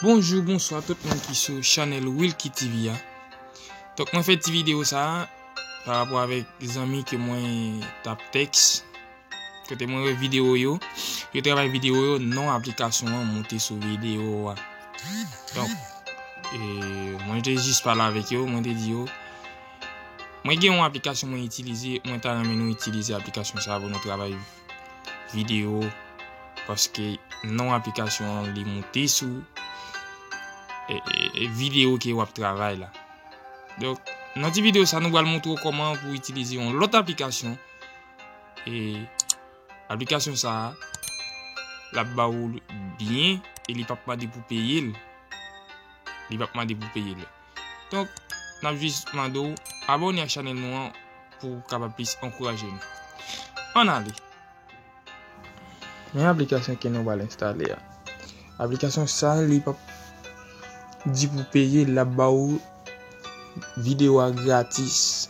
Bonjou, bonswa tout moun ki sou chanèl Wilky TV a. Tok mwen fè ti video sa a, pa rapò avèk zanmi ke mwen tap tèks. Kote mwen wè video yo. Yo travay video yo. Non aplikasyon an monte sou video a. Donk. E mwen te jis pale avèk yo. Mwen te di yo. Mwen gen yon aplikasyon mwen itilize. Mwen ta renmen nou itilize aplikasyon sa. Pou nou travay video. Paske non aplikasyon an li monte sou. E, e, e video ki wap travay la. Donk. Nan ti video sa nou wal montre w koman pou itilize yon lot aplikasyon. E aplikasyon sa a, la ba ou byen, e li pap mande pou peye l. Li pap mande pou peye l. Donk, nan jis mande ou, abone ak chanel nou an, pou ou kapab plis ankouraje nou. An ale! Men aplikasyon ke nou bal enstale a. Aplikasyon sa a, li pap di pou peye l, la ba ou video a gratis.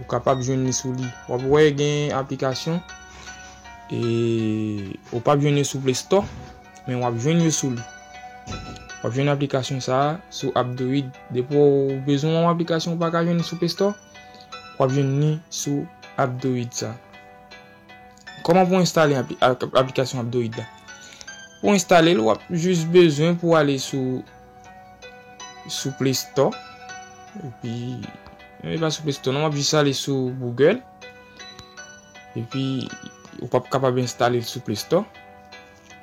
Ou kapab jwenn li sou li. Wap wè gen aplikasyon e ou pap jwenn yo sou play store men wap jwenn yo sou li. Wap jwenn aplikasyon sa a sou Abdoid. Depi ou bezwen yon aplikasyon ou pa ka jwenn li sou play store, wap jwenn li sou Abdoid sa. Koman pou enstale aplikasyon Abdoid la? Pou enstale l, wap jis bezwen pou ale sou sou Play Store epi non li pa sou Play Store non wap jis ale sou Google epi ou pap kapab enstale l sou Play Store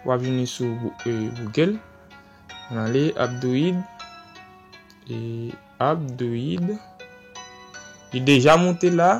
wap vini sou euh, Google nan ale Abdoid e Abdoid li deja monte la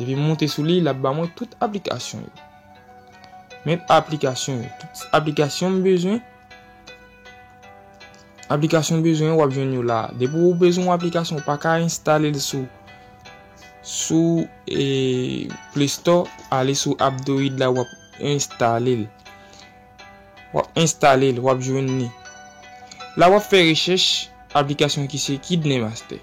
Depi m monte sou li, l ap ba mwen tout aplikasyon yo. Men aplikasyon yo. Tout aplikasyon m bezwen. Aplikasyon m bezwen w ap jwenn yo la. Depi ou bezwen w aplikasyon, w pa ka enstale l sou. Sou e Play Store, ale sou Abdoid la w ap enstale l. W ap enstale l, w ap jwenn ni. La w ap fè rechèch aplikasyon ki se Kidney Master.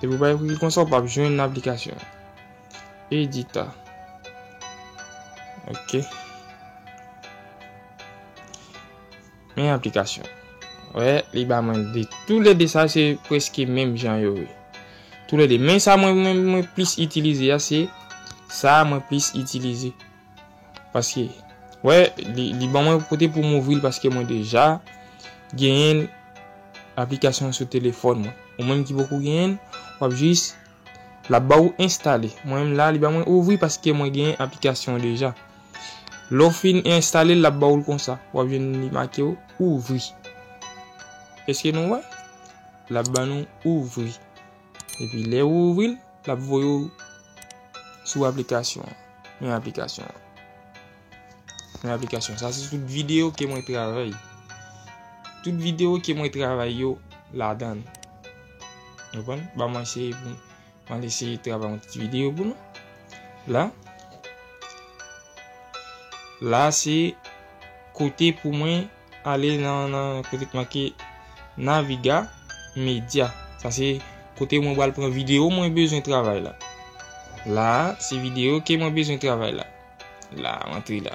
Depi ou pa ekri li konsa ou pap jwenn aplikasyon an. Edita. Ok. Men aplikasyon. Wè, li ba mwen de. Tou le de sa se preske menm jan yo we. Tou le de. Men sa mwen mwen plis itilize ya se. Sa mwen plis itilize. Paske wè li ban mwen kote pou m ouvri l paske mwen deja genyen aplikasyon an sou telefòn mwen. Ou menm ki poko genyen l, w ap jis l ap ba ou enstale. Mwen menm la li ba mwen ouvri paske mwen genyen aplikasyon an deja. Lè w fin enstale l l ap ba ou l konsa. W ap jwenn li make ou ouvri. Eske nou wè? L ap ban nou ouvri. Epi lè ou ouvri l, l ap voye ou sou aplikasyon an. Men aplikasyon an. Men aplikasyon an. Sa se tout videyo ke mwen travay. Tout videyo ke mwen travay yo la dan. Mwen pon. Ba mwen se pou. Mwen de se travay yon ti videyo pou nou. La. La se kote pou mwen Ale nan nan kote ki make Naviga Media. Sa se kote mwen bal pran video mwen bezwen travay la. La se video ke mwen bezwen travay la. La antre la.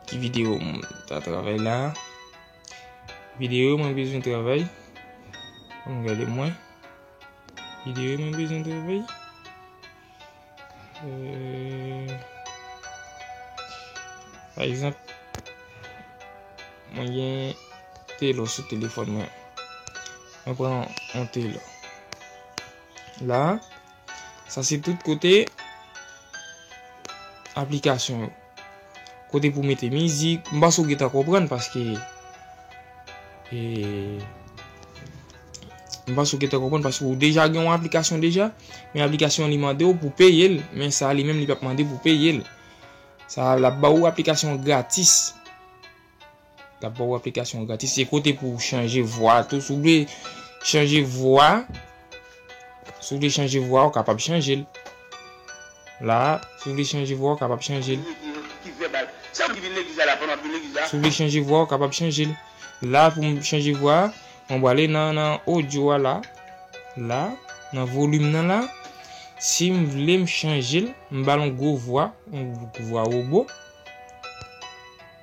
Ki video mwen ta travay la. Video mwen bezwen travay. Mwen gade mwen. Video mwen bezwen travay. Euh, pa egzanp, mwen gen telo sou telefon mwen. Mwen pran yon telo. La, sa se tout kote aplikasyon yo. Kote pou mete mizik. M panse ou gentan konprann paske e M panse ou gentan konprann paske ou deja gen yon aplikasyon deja men aplikasyon an li mande w pou peye l men sa li menm li pap mande pou peye l sa l ap ba ou aplikasyon an gratis. Lap ba ou aplikasyon gratis. Se kote pou ou chanje vwa tou. Si ou vle chanje vwa. Si ou vle chanje vwa ou kapab chanje l. La, si ou vle chanje vwa ou kapab chanje l. Si ou vle chanje vwa ou kapab chanje l. La pou m chanje vwa, mwen wale nan audio a la. La, nan volume nan la. Si m vle m chanje l, m ba l yon gwo vwa, yon vwa wobo.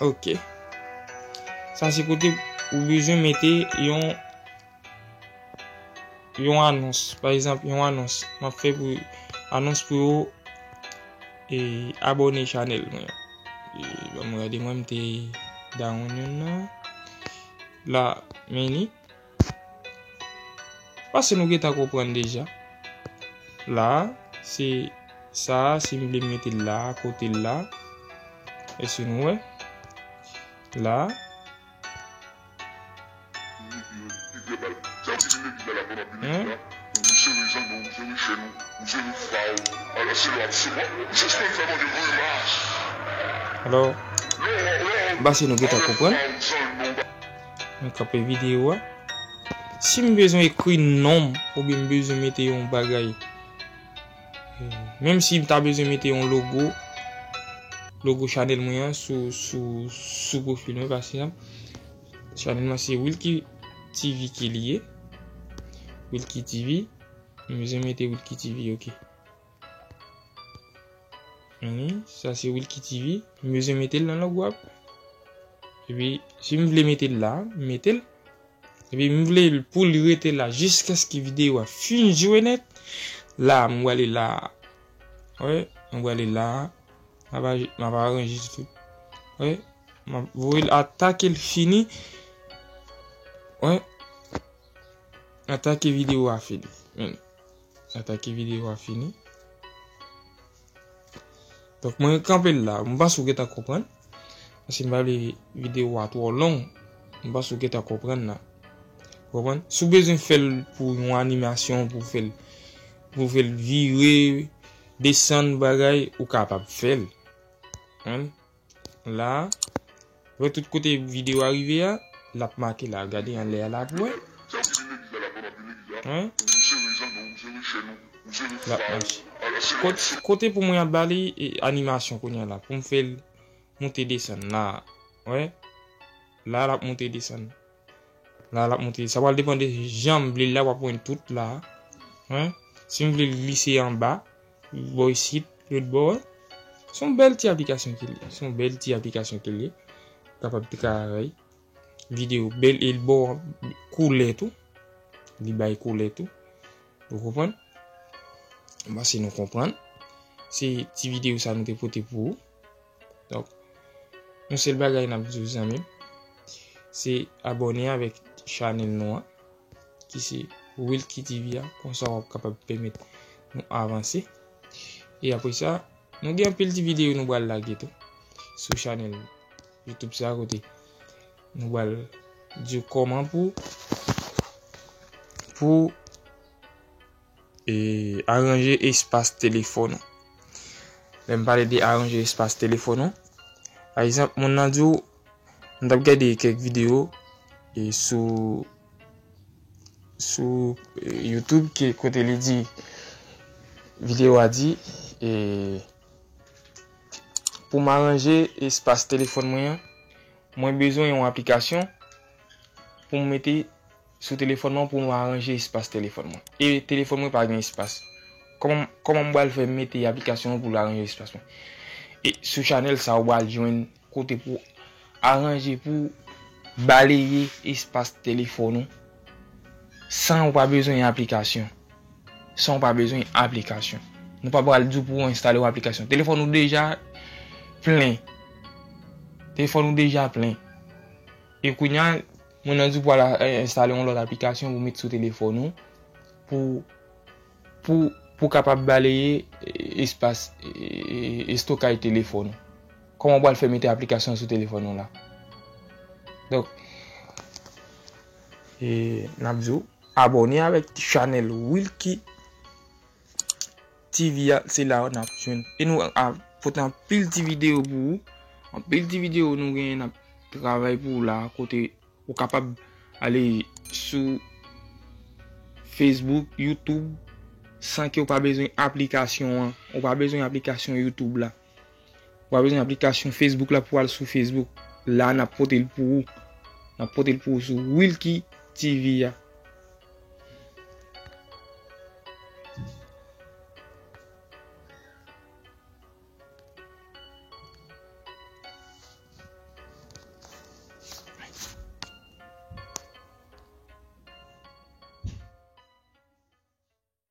Ok. Sa se kote ou bezwen mete yon yon anons. Pa egzanp, yon anons. M ap fè pou anons pou yo e abone chanèl mwen. E banm gade mwen m te dawonn yon nan. La, meni. Pase nou gentan konprann deja. La a, se sa a, si m vle m mete l la a, kote l la a. Èske nou wè? La a. Alò, m pase nou gentan konprann. Mwen kanpe video a. Si m bezwen ekri non m oubyen m bezwen mete yon bagay. Menm si m ta bezwen mete yon logo. Logo chanèl mwen an sou profil mwen pa ekzanp. Chanèl mwen se Wilky TV ke li ye. Wilky TV. M bezwen mete Wilky TV ok. Hum, sa se Wilky TV. M bezwen metel nan log wap. Epi, si m vle metel la, m metel. Epi, m vle l pou l rete la jiskaske videyo a fin jwe nèt. La, m wale la. Wè, m wale la. Map aje, map aranje tout. Wè, map voye l ata ke l fini. Wè, ata ke videyo a fini. Meni. Atake video a fini. Donk mwen kanpe la. Mwen panse ou gentan konprann. Paske mwen pa vle video a twò long. Mwen panse ou gentan konprann la. Konprann? Si ou bezwen fè l pou yon animasyon, pou fè l, pou fè l vire, desann bagay, ou kapab fè l. Konprann? La. Wè tout kote video a rive a. Lap make la. Gade anlè a la pou wè. Lap mache. Kote pou mwen ap bali animasyon kounye la. Poum fèl moute desan. La. Wè. La lap moute desan. La lap monte. Sa pral depan de janm vlel la wap wèn tout la. Hein? Sim vlel glise anba, bò isit, lòt bò wè. Son bèl ti aplikasyon ke li. Son bèl ti aplikasyon ke li. Kapab te ka rèy. Video bèl el bò koulè tou. Li bay koulè tou. Ou konprann? Mwen panse nou konprann. Se ti video sa nou te pote pou ou. Donk, yon sèl bagay n ap di w zanmi m, se abòne avèk chanèl nou an ki se Wilky TV a, konsa w ap kapab pèmèt nou avanse. E apre sa, nou gen anpil ti videyo nou pral lage tou sou chanèl YouTube sa kote nou pral di w kòman pou pou E aranje espas telefòn ou. Lè m pale de aranje espas telefòn ou. Pa egzanp moun nan di w, m t ap gade kèk videyo e sou sou youtube ki kote li di videyo a di e pou m aranje espas telefòn mwen an, mwen bezwen yon aplikasyon pou m mete Sou telefòn mwen pou mwen aranje espas telefòn mwen. E telefòn mwen pa gen espas. Kòman m pral fè mete aplikasyon an pou l aranje espas mwen. E sou chanèl sa ou pral jwenn kote pou aranje pou baleye espas telefòn ou san ou pa bezwen aplikasyon. San ou pa bezwen aplikasyon. Nou pa pral di w pou w enstale yon aplikasyon. Telefòn ou deja plen. Telefòn ou deja plen. E kounya. Moun nan di pou al enstale yon lòt aplikasyon pou met sou telefòn ou pou pou pou kapab baleye espas estokay telefòn ou. Kòman ou pral fè mete aplikasyon sou telefòn ou la? Donk e nap di ou abòne avèk chanèl Wilky TV a se la ou nap jwenn. E nou ap pote anpil ti video pou ou. Anpil ti video nou gen nap travay pou ou la kote ou kapab ale sou Facebook, YouTube san ke ou pa bezwen aplikasyon an. Ou pa bezwen aplikasyon YouTube la. Wap bezwen aplikasyon Facebook la pou al sou Facebook. La nap pote l pou ou. Nap pote l pou ou sou Wilky TV a.